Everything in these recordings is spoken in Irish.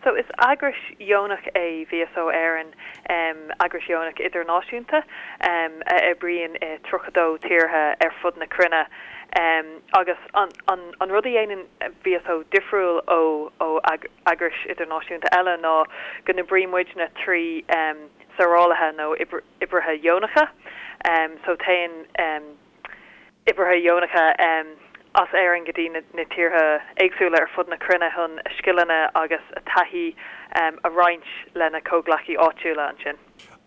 So, is eagrais dheonach é VSO Éireann, eagrais dheonach idirnáisiúnta a oibríonn i 32 tíortha ar fud na cruinne. Agus an rud a dhéanann VSO difriúil ó eagrais idirnáisiúnta eile ná go n-oibrímidne trí saorálaithe nó oibrithe dheonacha. So, téann. oibrithe dheonacha as Éirinn go dtí na tíortha éagsúla ar fud na cruinne chun a scileanna agus a dtaithí a roinnt lena gcomhghleacaí áitiúla ansin.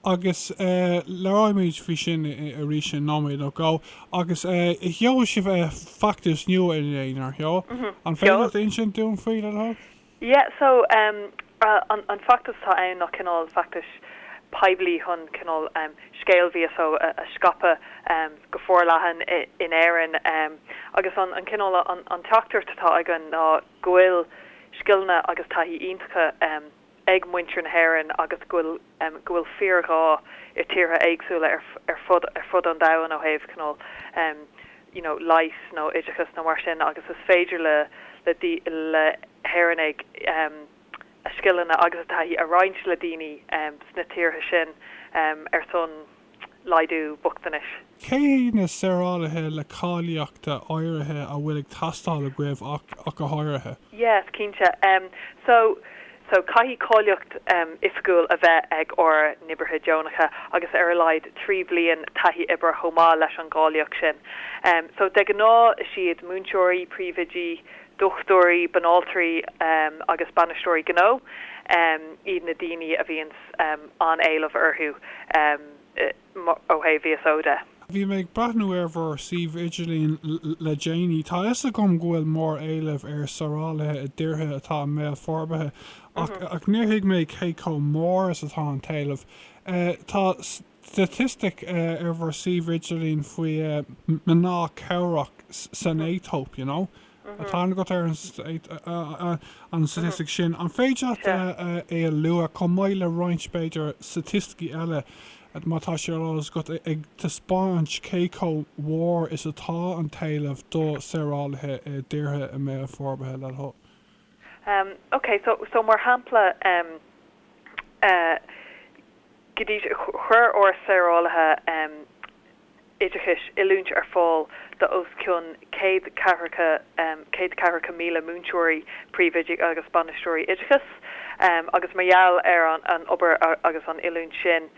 Agus labhróimid faoi sin arís i nóiméad nó dhó. Agus sheol sibh feachtas nua inné, nár sheol? An féidir leat insint dúinn faoi, le do thoil? Yeah so em an an feachtas atá ann ná cineál feachtais poiblí chun cineál em scéal VSO a a scaipeadh em go forleathan i in Éirinn em agus an an cineál an an teachtaireacht atá againn ná go bhfuil scileanna agus taithí iontacha em ag muintir na hÉireann agus go bhfuil go bhfuil fíorghá i tíortha éagsúla ar fud ar fud an domhain ó thaobh cineál you know leighis nó oideachas nó mar sin agus is féidir le le hÉireannaigh a scileanna agus a taithí a roinnt le daoine sna tíortha sin ar son laghdú bochtanais. Cé na saorálaithe le cáilíochta áirithe a bhfuil ag teastáil agaibh ach go háirithe? Yes, cinnte. So, so caithfidh cáilíocht oifigiúil a bheith ag ár n-oibrithe deonacha agus ar a laghad trí bhliain taithí oibre chomh maith leis an gcáilíocht sin. So de ghnáth is iad múinteoirí, príomhoidí, dochtúirí, banaltraí agus bainisteoirí gnó iad na daoine a bhíonn an-éileamh orthu ó thaobh VSO de. Bhí mé ag breathnú ar bhur suíomh idirlín le déanaí. Tá a fhios agam go bhfuil mór-éileamh ar shaorálaithe i dtíortha atá i mbéal forbartha ach níor thuig mé cé chomh mór is atá an t-éileamh. Tá. Staitistic ar bhur suíomh idirlín faoi mná cabhrach san Aetóip, you know. Tá aithne agat ar an staitistic sin. An féidir leat é a lua, chomh maith le roinnt, b'fhéidir, staitisticí eile, má tá sé ar eolas agat, ag taispeáint cé chomh mhór is atá an t-éileamh do saorálaithe i dtíortha i mbéal forbartha le OK, so, so mar shampla, go dtí seo chuir ár saorálaithe oideachais oiliúint ar fáil do os cionn céad ceathracha, céad ceathracha míle múinteoirí, príomhoidí agus bainisteoirí oideachais agus mar gheall ar an obair agus an oiliúint sin,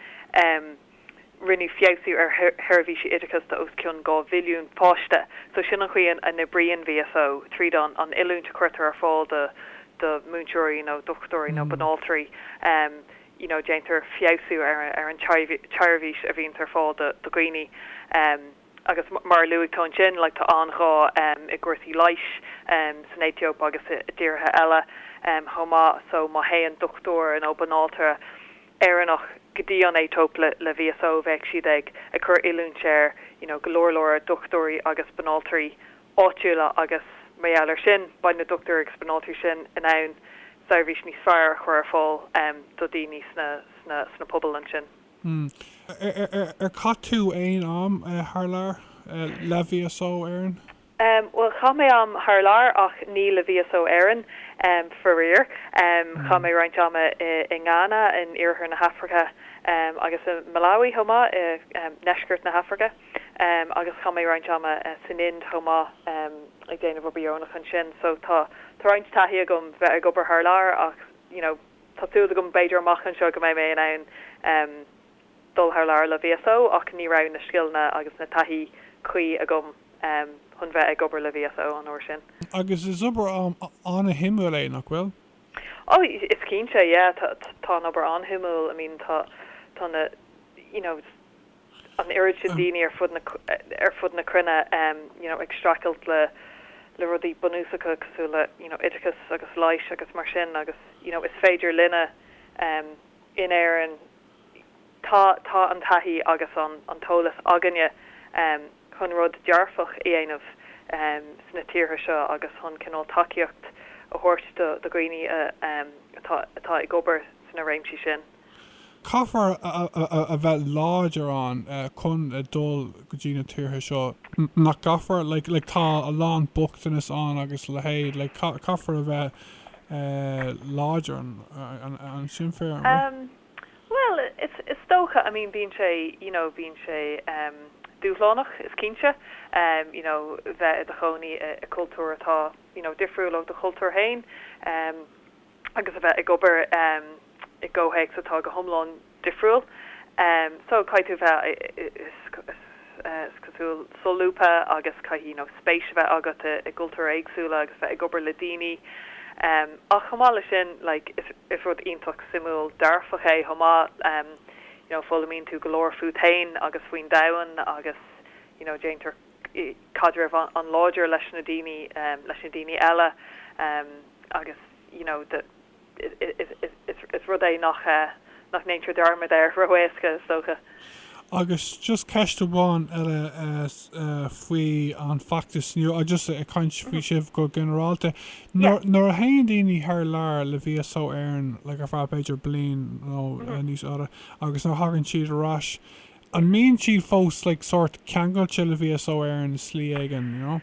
Rinneadh feabhsú ar sheirbhísí oideachais do os cionn dhá mhilliún páiste so sin an chaoi a n-oibríonn VSO, tríd an an oiliúint a chuirtear ar fáil do do mhúinteoirí, you know dochtúirí nó banaltraí, em you know déantar feabhsú ar an ar an tseirbhís a bhíonns ar fáil do do dhaoine em agus mar a luaigh tú ansin like tá an-ghá em i gcúrsaí leighis em san Aetóip agus i dtíortha eile em chomh maith so má théann dochtúir nó banaltra Éireannach go dtí an Aetóip le VSO bheadh siad ag ag cur oiliúint ar you know go leor leor dochtúirí agus banaltraí áitiúla agus mar gheall ar sin beidh na dochtúirí agus banaltraí sin in ann seirbhís níos fearr a chur ar fáil em do daoine sna sna sna pobail ansin. Hmm. Ar ar ar ar ar chaith tú aon am eh thar lear eh le VSO Éireann? Bhuel, chaith mé am thar lear ach ní le VSO Éireann, faraor. Chaith mé roinnt ama i nGána in iarthar na hAfraice agus i Malawi chomh maith i ndeisceart na hAfraice agus chaith mé roinnt ama san Ind chomh maith ag déanamh obair dheonach ansin. So tá roinnt taithí agam bheith ag obair thar lear ach you know tá súil agam b'fhéidir amach anseo go mbeidh mé in ann dul thar lear le VSO ach ní raibh na scileanna agus na taithí cuí agam. chun bheith ag obair le VSO an uair sin. Agus is obair an-shuimiúil é, nach bhfuil? Oh, is cinnte, yeah, tá an obair an-shuimiúil, I mean, tá na, you know, an oiread sin daoine ar fud na cruinne, you know, ag streachailt le rudaí bunúsacha cosúil le, you know, oideachas agus leighis agus mar sin agus, you know, is féidir linne in Éirinn, Tá, tá an taithí agus an an t-eolas againne chun rud dearfach a dhéanamh sna tíortha seo agus chun cineál tacaíocht a thabhairt do do dhaoine atá atá ag obair sna réimsí sin. Caithfear a bheith láidir ann chun a dhul go dtí na tíortha seo, nach gcaithfear? Like like tá a lán bochtanas ann agus a leithéid like caithfear a bheith láidir ansin féin, an bhfuil? Bhuel, is, is dócha, I mean bíonn sé, you know bíonn sé em dúshlánach is cinnte em you know bheith i do chónaí i gcultúr atá you know difriúil ó do chultúr féin em agus a bheith ag obair em i gcomhthéacs atá go hiomlán difriúil em so caithfidh tú bheith eh eh eh is. is cosúil, solúbtha agus caithfidh, you know, spéis a bheith agat i gcultúir éagsúla agus bheith ag obair le daoine. Ach chomh maith leis sin, like, is, is rud iontach suimiúil, dearfach é chomh maith, you know, foghlaimíonn tú go leor fút fhéin agus faoin domhan agus, you know, déantar caidreamh an-láidir leis na daoine, leis na daoine eile agus, you know, the. Is rud é nach ndéantar dearmad air ró-éasca, is dócha. Agus just ceist amháin eile faoin bhfeachtas nó just ag caint faoi sibh go ginearálta. Nuair a théann daoine thar lear le VSO Éireann like ar feadh b'fhéidir bliain nó níos faide agus nuair a thagann siad ar ais, an mbíonn siad fós like sórt ceangailte le VSO Éireann i slí éigin, you know?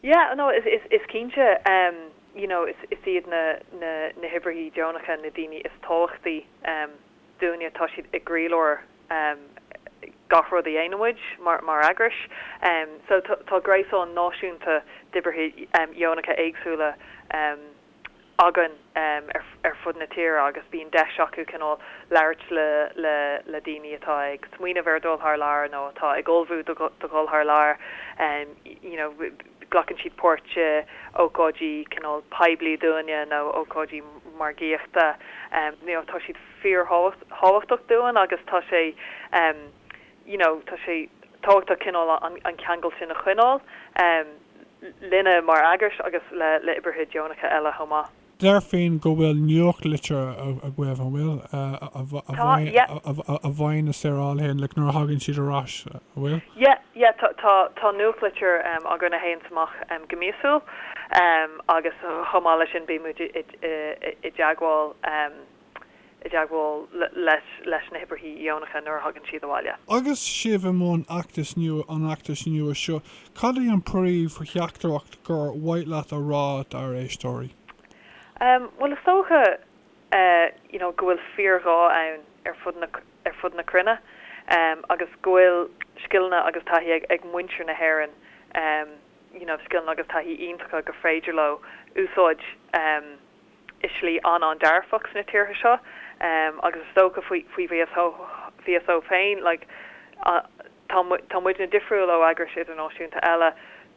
Yeah, no, is, is, is cinnte, em, you know, is, is iad na, na, na hoibrithe deonacha na daoine is tábhachtaí, em, dúinne, tá siad i gcroílár, em, gach rud a dhéanann muid mar, mar eagras. Em, so tá, tá gréasán náisiúnta d'oibrithe, em, deonacha éagsúla, em, againn ar fud na tíre agus bíonn deis acu cineál labhairt le daoine atá ag smaoineamh ar dhul thar lear nó atá ag ullmhú do ghul thar lear you know glacann siad páirt i ócáidí cineál poiblí dúinne nó ócáidí margaíochta you know tá siad fíor thábhachtach dúinn agus tá sé you know tá sé tábhachtach cineál an ceangal sin a choinneáil linne mar eagras agus le le oibrithe deonacha eile chomh maith. Déarfainn go bhfuil nuachtlitir agaibh, an bhfuil? Tá, yep. a bhfaigheann na saorálaithe an nuair a thagann siad ar ais, an bhfuil? Yeah, yeah tá tá tá nuachtlitir againn a théanns amach go míosúil agus chomh maith leis sin bíonn muid i dteagmháil. i dteagmháil leis na hoibrithe dheonacha nuair a thagann siad abhaile. Agus sibh i mbun fheachtas nua an fheachtais nua seo, cad é an phríomhtheachtaireacht gur mhaith leat a rá dár éisteoirí? Bhuel, is dócha you know go bhfuil fíorghá ann ar fud na ar fud na cruinne agus go bhfuil scileanna agus taithí ag muintir na hÉireann you know scileanna agus taithí iontacha gur féidir leo a úsáid i slí an-an-dearfach sna tíortha seo agus is dócha faoi VSO féin like tá muidne difriúil ó eagrais idirnáisiúnta eile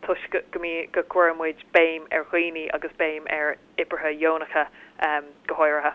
toisc go go gcuireann muid béim ar dhaoine agus béim ar oibrithe dheonacha go háirithe.